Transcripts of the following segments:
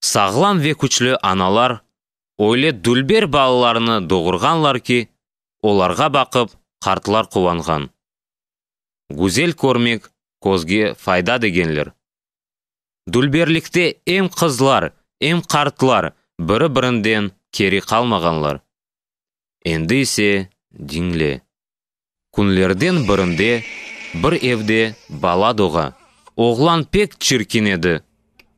Sağlam ve küçlü analar öyle dülber balalarnı doğurğanlar ki, olarğa baqıp qartlar quvanğan. Güzel körmek közge fayda degenler. Dülberlikte em qızlar, em qartlar biri-birinden keri qalmağanlar. Endi ise diñle. Künlerden birinde bir evde bala doğa. Oğlan pek çirkin edi.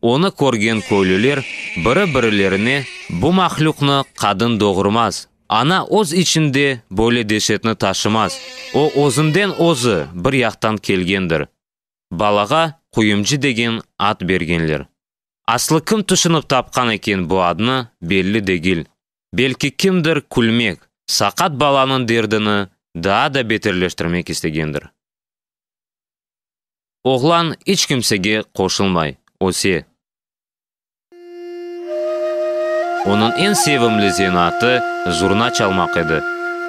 Onı körgen köylüler biri-birilerine, Bu mahlüqni qadın doğurmaz, ana öz içinde böyle deşetni taşımaz, o özünden özü bir yaqtan kelgendir. Balağa Quyumcı degen ad bergenler. Aslı kim tüşünip tapqan eken bu adnı, belli degil. Belki kimdir külmek, saqat balanıñ derdini daa da beterleştirmek istegendir. Oğlan iç kimsege qoşulmay, öse. Onıñ eñ sevimli zenaatı zurna çalmaq edi.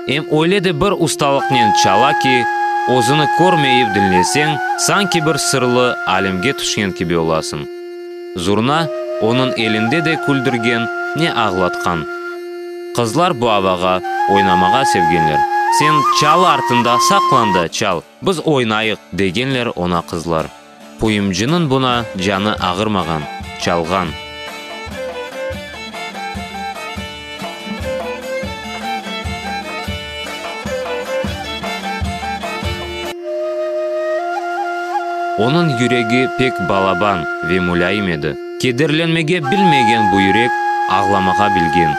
Em öyle de bir ustalıqnen çala ki, özüni körmeyip diñleseñ, sanki bir sırlı alemge tüşken kibi olasıñ. Zurna onıñ elinde de küldürgen, ne ağlatqan. Qızlar bu avağa oynamağa sevgenler. Sen çalı artında saqlan da çal, biz oynayıq, degenler oña qızlar. Puyumcınıñ buna canı ağırmağan, çalğan. Onıñ yüregi pek balaban ve mulâyim edi. Kederlenmege bilmegen bu yürek ağlamağa bilgen.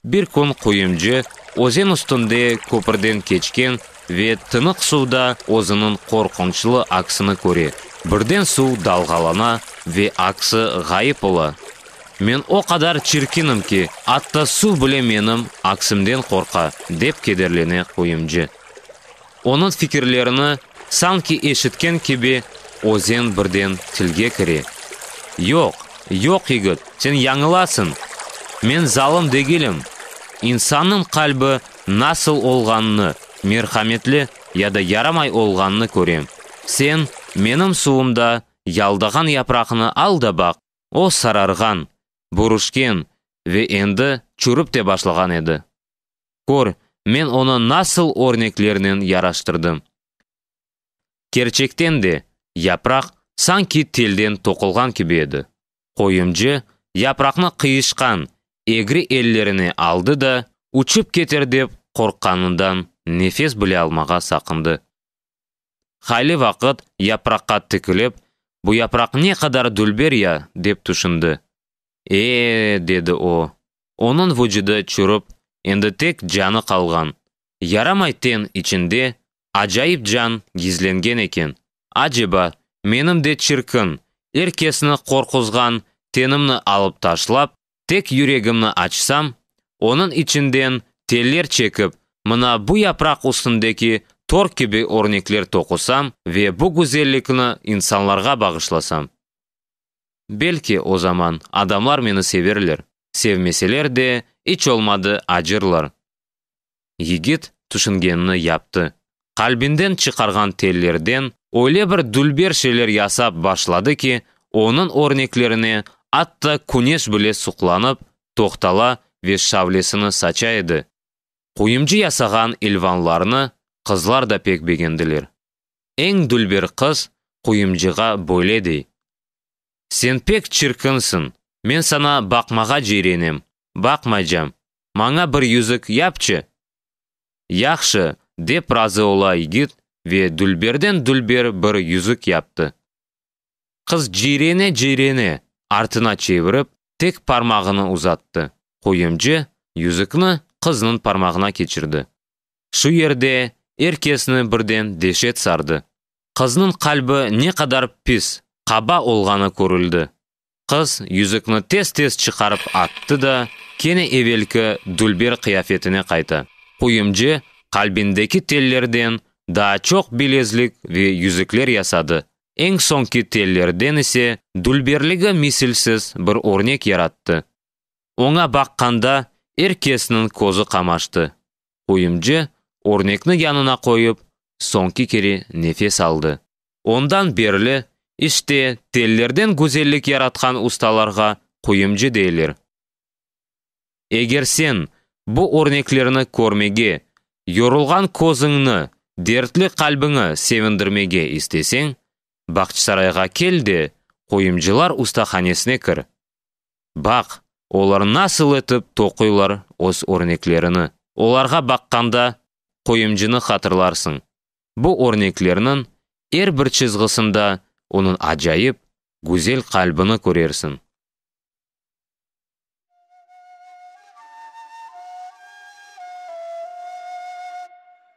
Bir kün quyumcı özen üstünde köpürden keçken ve tınıq suvda özüniñ qorqunçlı aksini köre. Birden suv dalğalana ve aksi ğayıp ola. Men o qadar çirkinim ki, atta suv bile menim aksimden qorqa, dep kederlene quyumcı. Onıñ fikirlerini sanki eşitken kibi Özen birden tilge kire, Yoq, yoq, yigit, sen yañılasıñ. Men zalım degilim. İnsannıñ qalbi nasıl olğanını, merhametli ya da yaramay olğanını körem. Sen menim suvumda yaldağan yapraqnı al da baq, o sararğan, bürüşken ve endi çürip te başlağan edi. Kör, men onı nasıl örneklernen yaraştırdım. Kerçekten de, yapraq sanki telden toqulğan kibi edi. Qoyuncu yapraqnı qıyışqan, egri ellerine aldı da, uçıp keter dep qorqqanından nefes bile almağa saqındı. Hayli vaqıt yapraqqa tikilip, bu yapraq ne qadar dülber ya, dep tüşündi. E-e, dedi o, onıñ vucüdi çürip, endi tek canı qalğan. Yaramay ten içinde acayip can gizlengen eken. Aceba, menim de çirkin, er kesni qorquzğan tenimni alıp taşlap, Tek yüregimni açsam, onıñ içinden teller çekip, mına bu yapraq üstündeki tor kibi örnekler toqusam ve bu güzellikni insanlarğa bağışlasam, belki, o zaman adamlar meni severler, sevmeseler de, iç olmadı acırlar. Yigit tüşüngenini yaptı. Qalbinden çıqarğan tellerden öyle bir dülber şeyler yasap başladı ki, onıñ örneklerine atta küneş bile suqlanıp, toqtala ve şavlesini saça edi. Quyumcı yasağan ilvanlarnı qızlar da pek begendiler. Eñ dülber qız quyumcığa böyle dey. Sen pek çirkinsiñ, men saña baqmağa ceyrenem, baqmaycam, maña bir yüzük yapçı! Yahşı, dep razı ola yigit ve dülberden dülber bir yüzük yaptı. Qız ciyrene-ciyrene artına çevirip, tek parmağını uzattı, qoyunca yüzükni qıznıñ parmağına keçirdi. Şu yerde er kesni birden deşet sardı. qıznıñ qalbi ne qadar pis, qaba olğanı körüldi. Qız yüzükni tez-tez çıqarıp attı da, kene evelki dülber qıyafetine qayta. Quyumce qalbindeki tellerden daa çoq bilezlik ve yüzükler yasadı, eñ soñki tellerden ise dülberligi misilsiz bir örnek yarattı. Oña baqqanda er kesniñ közü qamaştı. Quyumcı örnekni yanına qoyıp, soñki kere nefes aldı. Ondan berli, işte, tellerden güzellik yaratqan ustalarğa quyumcı deyler. Eger sen bu örneklerni körmege, yorulğan közüñni, dertli qalbiñi sevindirmege isteseñ, Bağçasarayğa kel de, Quyumcılar ustahanesine kir, Baq, olar nasıl etip toquylar öz örneklerini. Olarğa baqqanda, qoyumcını hatırlarsıñ. Bu örneklerniñ er bir çızğısında onıñ acayip, güzel qalbini körersiñ.